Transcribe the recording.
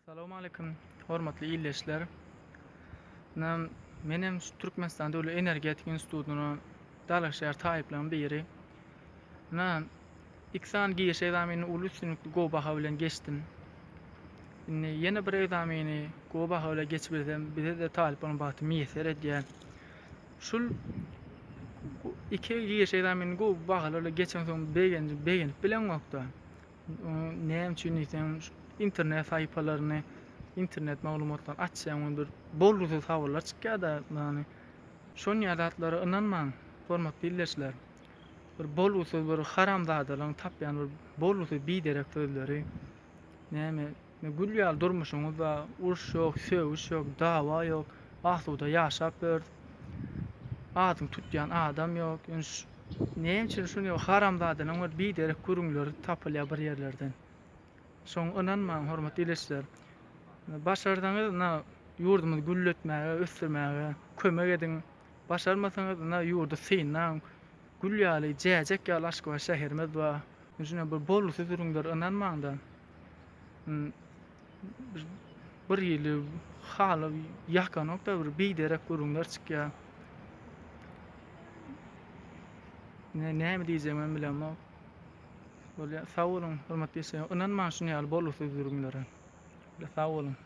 Salowmaleýkim, hormatly ildeşler! Ynha, men hem şu Türkmenistan döwlet energetika institutyna dalaşgär taýyplaryň biri. Ynha, iki sany giriş ekzamenini uly üstünlikli gowy baha bilen geçdim. Indi ýene bir ekzameni gowy baha bilen geçibilsem, bize-de talyp bolan bagty miýesser edýär. Şul iki giriş ekzamenini gowy bahalar bilen geçensoň begenip bileňokda. Näme üçin diýseň, internet sahypalaryny, internet maglumatlaryny açsaň, onda bir bolgusyz habarlar çykýar-da, ýagny şonýa zatlara ynanmaň, hormatly ildeşler. Bir bolgusyz bir haramzadalaryň tapýan bir bolgusyz biderek sözleri, näme, Gül ýaly durmuşyňyz bar, uruş ýok, sögüş ýok, dawa ýok, asuda ýaşap ýörüs. Adyňy tutýan adam ýok. Ýöne näme üçin şuny haramzadalaryň bir biderek gürrüňleri tapylýar bir ýerlerden. Şoňa ynanmaň hormatly ildeşler. Başarsaňyz ynha ýurdumyzy gülletmäge, ösdürmäge kömek ediň. Başarmasaňyz ynha ýurdy synlaň. Gül ýaly, jäjek ýaly Aşgabat şäherimiz bar. Şuna bir bolgusyz gürrüňlere ynanmaň-da. birhili haly ýakanok-da, bir biderek gürrüňler çykýar. Ine, näme diýjegimi hem bilemok. Bolýar, sag boluň, hormatly işleýjim. Ynanmaň şuny ýaly bolgusyz gürrüňlere. Sag boluň.